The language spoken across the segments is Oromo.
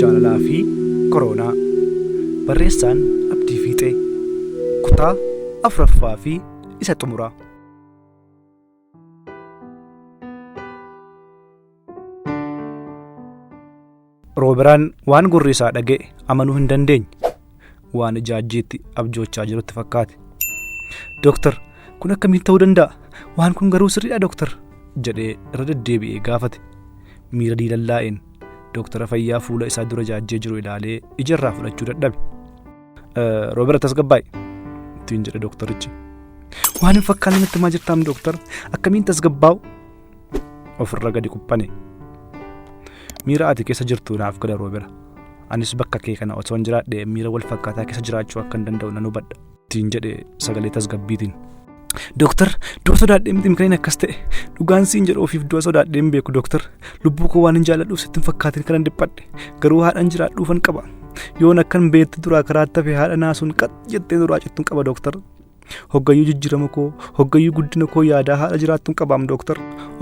Jaalalaa fi Koroonaa Barreessaan Abdii Fiixee Kutaa 4ffaa fi isa xumuraa. Rooberaan waan gurri isaa dhaga'e amanuu hin dandeenye. waan ijaajjiitti abjoochaa jirutti fakkaate. Dooktar, kun akkamiin ta'uu danda'a? Waan kun garuu sirriidha dooktar? jedhee irra deddeebi'ee gaafate. Miira diilallaa'een dooktara fayyaa fuula isaa dura jaajjee jiru ilaalee ija irraa fudhachuu dadhabe. Roobera tasgabbaa'e ittiin jedhe dooktarichi. Waan hin fakkaanne natti himaa jirtaam dooktar akkamiin tasgabbaa'u? ofirra gadi quphane miira ati keessa jirtu naaf gala roobera anis bakka kee kana osoo hin jiraadhe miira wal fakkaataa keessa jiraachuu akka hin danda'u nan hubadha ittiin jedhe sagalee tasgabbiitiin. Dooktar du'a sodaadhee miti kan inni akkas ta'e dhugaan siin jedhu ofiif du'a sodaadhee hin beeku dooktar lubbuu koo waan hin jaalladhuuf sitti hin fakkaatin kan dhiphadhe garuu haadhan jiraadhuufan qaba yoon akkan beektu duraa karaa tafe haadha naasuun qax jettee duraa cittuun qaba dooktar Hoggayyuu jijjiirama koo, hoggayyuu guddina koo yaadaa haadha jiraattuun qabaam dooktar.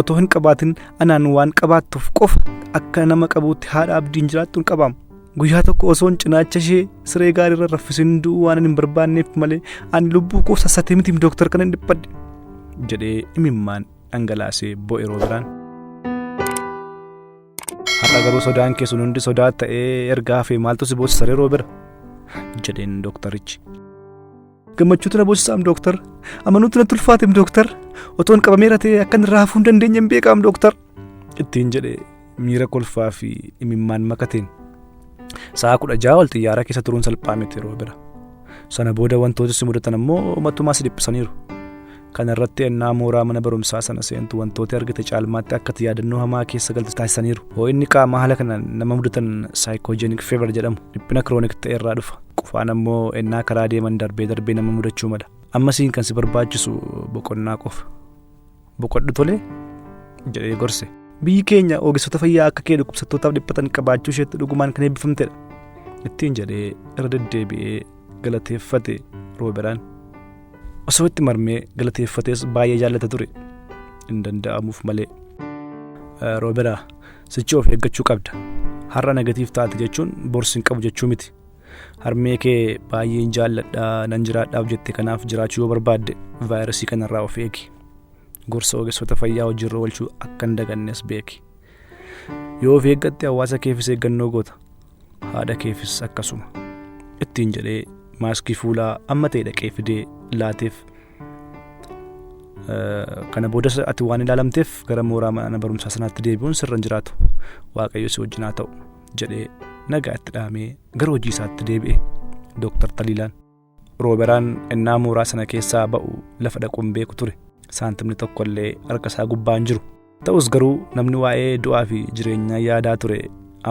Otoo hin qabaatin anaan waan qabaattuuf qofa akka nama qabuutti haadha abdiin jiraattuun qabaam. Guyyaa tokko osoon cinaacha ishee siree gaariirra raffisin du'uu waan hin barbaanneef malee ani lubbuu koo sassatee mitiif dooktar kana hin dhiphadhe. jedhee imimmaan dhangalaasee bo'e roobiraan. Har'a garuu sodaan kee sun hundi sodaa ta'ee erga hafee maaltu si boosisaree roobira? jedheen dooktarichi. gammachuu tana boosisaam dooktar amanuu tana tulfaateem dooktar otoon qabameera ta'e akkan irraa hafuu hin dandeenye hin beekaam dooktar ittiin jedhe miira kolfaa fi imimmaan makateen sa'a kudha ja'a ol xiyyaara keessa turuun salphaa miti yeroo bira sana booda wantoota si mudatan ammoo matumaa si dhiphisaniiru Kana irratti ennaa mooraa mana barumsaa sana seentu wantooti argite caalmaatti akka ati yaadannoo hamaa keessa galtu taasisaniiru. Hoo'inni qaamaa haala kanaan nama mudatan saayikoojenik feevar jedhamu dhiphina kiroonik ta'e irraa dhufa. Qufaan ammoo ennaa karaa deeman darbee darbee nama mudachuu mala. Amma siin kan si barbaachisu boqonnaa qofa. Boqodhu tolee jedhee gorse. Biyyi keenya ogeessota fayyaa akka kee dhukkubsattootaaf dhiphatan qabaachuu isheetti dhugumaan kan eebbifamtedha. Ittiin jedhee irra deddeebi'ee galateeffate Rooberaan. Osoo itti marmee galateeffatees baay'ee jaallata ture. Hin danda'amuuf malee. Eh, Rooberaa, sichi of eeggachuu qabda. Har'a negatiif taate jechuun borsi hin qabu jechuu miti. Harmee kee baay'een jaalladha nan jiraadhaaf jette kanaaf jiraachuu yoo barbaadde vaayirasii kanarraa of eegi. Gorsa ogeessota fayyaa hojiirra oolchuu akka hin dagannes beeki. Yoo of eeggatte hawaasa keefis eeggannoo goota. haadha keefis akkasuma ittiin jedhee maaskii fuulaa amma ta'e dhaqee fidee laateef kana booda ati waan ilaalamteef gara mooraa mana barumsaa sanaatti deebi'uun sirra hin jiraatu waaqayyo si wajjin haa ta'u jedhee nagaa itti dhaamee gara hojii isaatti deebi'e dooktar Taliilaan. Rooberaan ennaa mooraa sana keessaa ba'u lafa dhaqu hin beeku ture. Saantimni tokko illee harka isaa gubbaa hin jiru. Ta'us garuu namni waa'ee du'aa fi jireenyaa yaadaa ture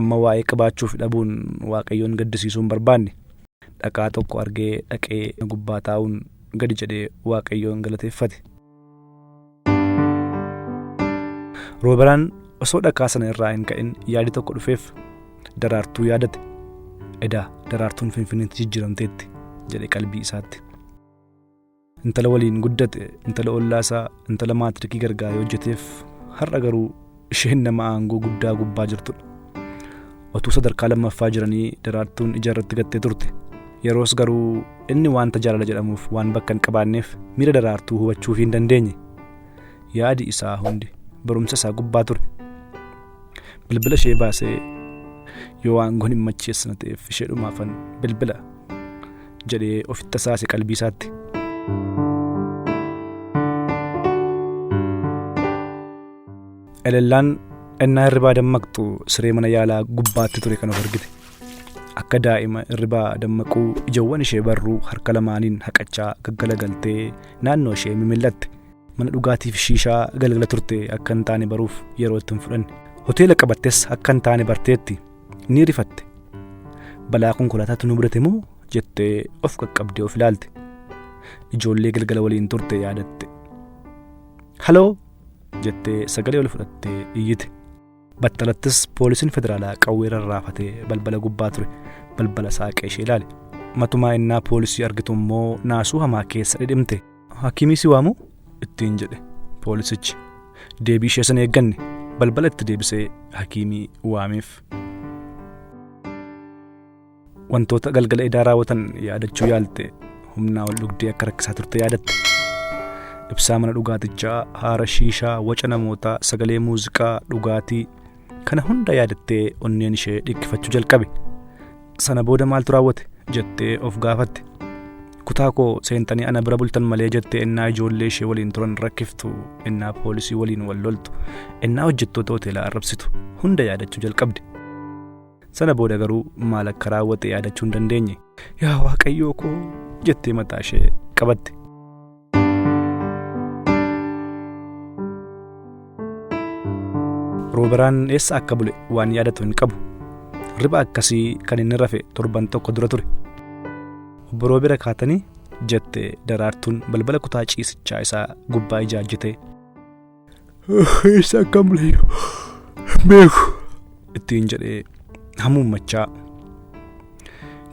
amma waa'ee qabaachuu fi dhabuun Waaqayyoon gaddisiisuu hin barbaanne. Dhakaa tokko argee dhaqee gubbaa taa'uun gadi jedhee Waaqayyoon galateeffate. Rooberaan osoo dhakaa sana irraa hin ka'in yaadi tokko dhufeef daraartuu yaadate. Edaa daraartuun finfinneetti jijjiiramteetti jedhe qalbii isaatti. Intala waliin guddate, intala ollaasaa, intala maatirikii gargaaree hojjeteef har'a garuu Isheen nama aangoo guddaa gubbaa jirtudha. Otuu sadarkaa lammaffaa jiranii daraartuun ija irratti gattee turte. Yeroos garuu inni wanta jaalala jedhamuuf waan bakka hin qabaanneef miira daraartuu hubachuuf hin dandeenye. Yaadi isaa hundi barumsa isaa gubbaa ture. Bilbila ishee baasee yoo aangoon hin macheessina ta'eef ishee dhumaafan bilbila jedhee ofitti tasaase qalbii isaatti. Elellaan ennaa hirribaa dammaqxu siree mana yaalaa gubbaatti ture kan of argite. Akka daa'ima hirribaa dammaquu ijawwan ishee barruu harka lamaaniin haqachaa gaggalagaltee naannoo ishee mimillatte. Mana dhugaatiif shiishaa galgala turte akka hin taane baruuf yeroo itti hin fudhanne. Hoteela qabattes akka hin taane barteetti. Ni rifatte. Balaa konkolaataatu nu mudate moo jettee of qaqqabdee of ilaalte. Ijoollee galgala waliin turte yaadatte. Haloo! jettee sagalee ol fudhattee iyyite. Battalattis poolisiin federaalaa qawwee rarraafatee balbala gubbaa ture balbala saaqee ishee ilaale. Matumaa innaa poolisii argitu immoo naasuu hamaa keessa dhidhimte. Hakiimii si waamuu? ittiin jedhe poolisichi. Deebii ishee sana eegganne balbala itti deebisee hakiimii waameef. Wantoota galgala edaa raawwatan yaadachuu yaalte humnaa ol dhugdee akka rakkisaa turte yaadatte. Ibsaa mana dhugaatichaa, haara shiishaa, waca namootaa, sagalee muuziqaa, dhugaatii kana hunda yaadattee onneen ishee dhikkifachuu jalqabe. Sana booda maaltu raawwate jettee of gaafatte. Kutaa koo seentanii ana bira bultan malee jettee ennaa ijoollee ishee waliin turan rakkiftu, ennaa poolisii waliin wal loltu, ennaa hojjettoota hoteelaa arrabsitu hunda yaadachuu jalqabde. Sana booda garuu maal akka raawwate yaadachuu hin dandeenye. Yaa waaqayyoo koo jettee mataa ishee qabatte. Rooberaan eessa akka bule waan yaadatu hin qabu. Riba akkasii kan inni rafe torban tokko dura ture. Obbo Roobera kaatanii jette daraartuun balbala kutaa ciisichaa isaa gubbaa ijaajjite. Eessa akka bulee beeku. Ittiin jedhee hamuummachaa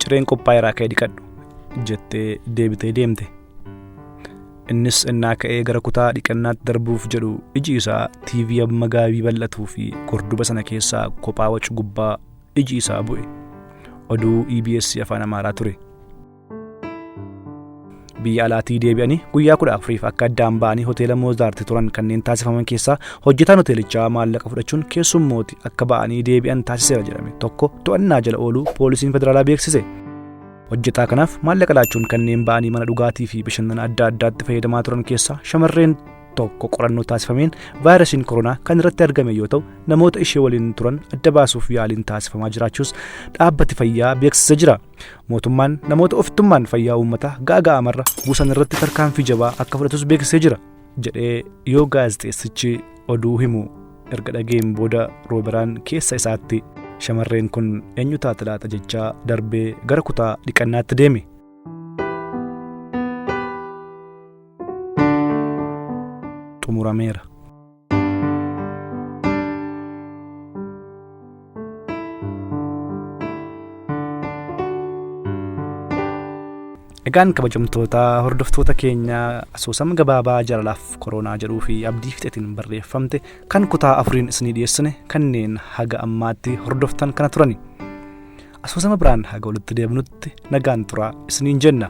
cireen qophaa'e irraa ka'ee dhiqadhu jettee deebitee deemte. Innis innaa ka'ee gara kutaa dhiqannaatti darbuuf jedhu iji isaa TV amma gaabii bal'atuu fi gorduba sana keessaa kophaa wacu gubbaa iji isaa bu'e. Oduu EBS afaan Amaaraa ture. biyya alaatii deebi'anii guyyaa kudha afuriif akka addaan ba'anii hoteela moozaarti turan kanneen taasifaman keessaa hojjetaan hoteelichaa maallaqa fudhachuun keessummooti akka ba'anii deebi'an taasiseera jedhame tokko to'annaa jala ooluu poolisiin federaalaa beeksise. hojjetaa kanaaf maallaqa laachuun kanneen ba'anii mana dhugaatii fi bashannana adda addaatti fayyadamaa turan keessaa shamarreen tokko qorannoo taasifameen vaayirasiin koronaa kan irratti argame yoo ta'u namoota ishee waliin turan adda baasuuf yaaliin taasifamaa jiraachuus dhaabbati fayyaa beeksisa jira. Mootummaan namoota ofittummaan fayyaa uummataa gaaga'amarra buusan irratti tarkaanfii jabaa akka fudhatus beeksisee jira jedhee yoo gaazexeessichi oduu himu erga dhageen booda rooberaan keessa isaatti shamarreen kun eenyu taate laata jechaa darbee gara kutaa dhiqannaatti deeme. xumurameera. Egaan kabajamtoota hordoftoota keenya asoosama gabaabaa jaalalaaf koronaa jedhuu fi abdii fixetiin barreeffamte kan kutaa afuriin isinii dhiyeessine kanneen haga ammaatti hordoftan kana turani. Asoosama biraan haga walitti deebinutti nagaan turaa isiniin jenna.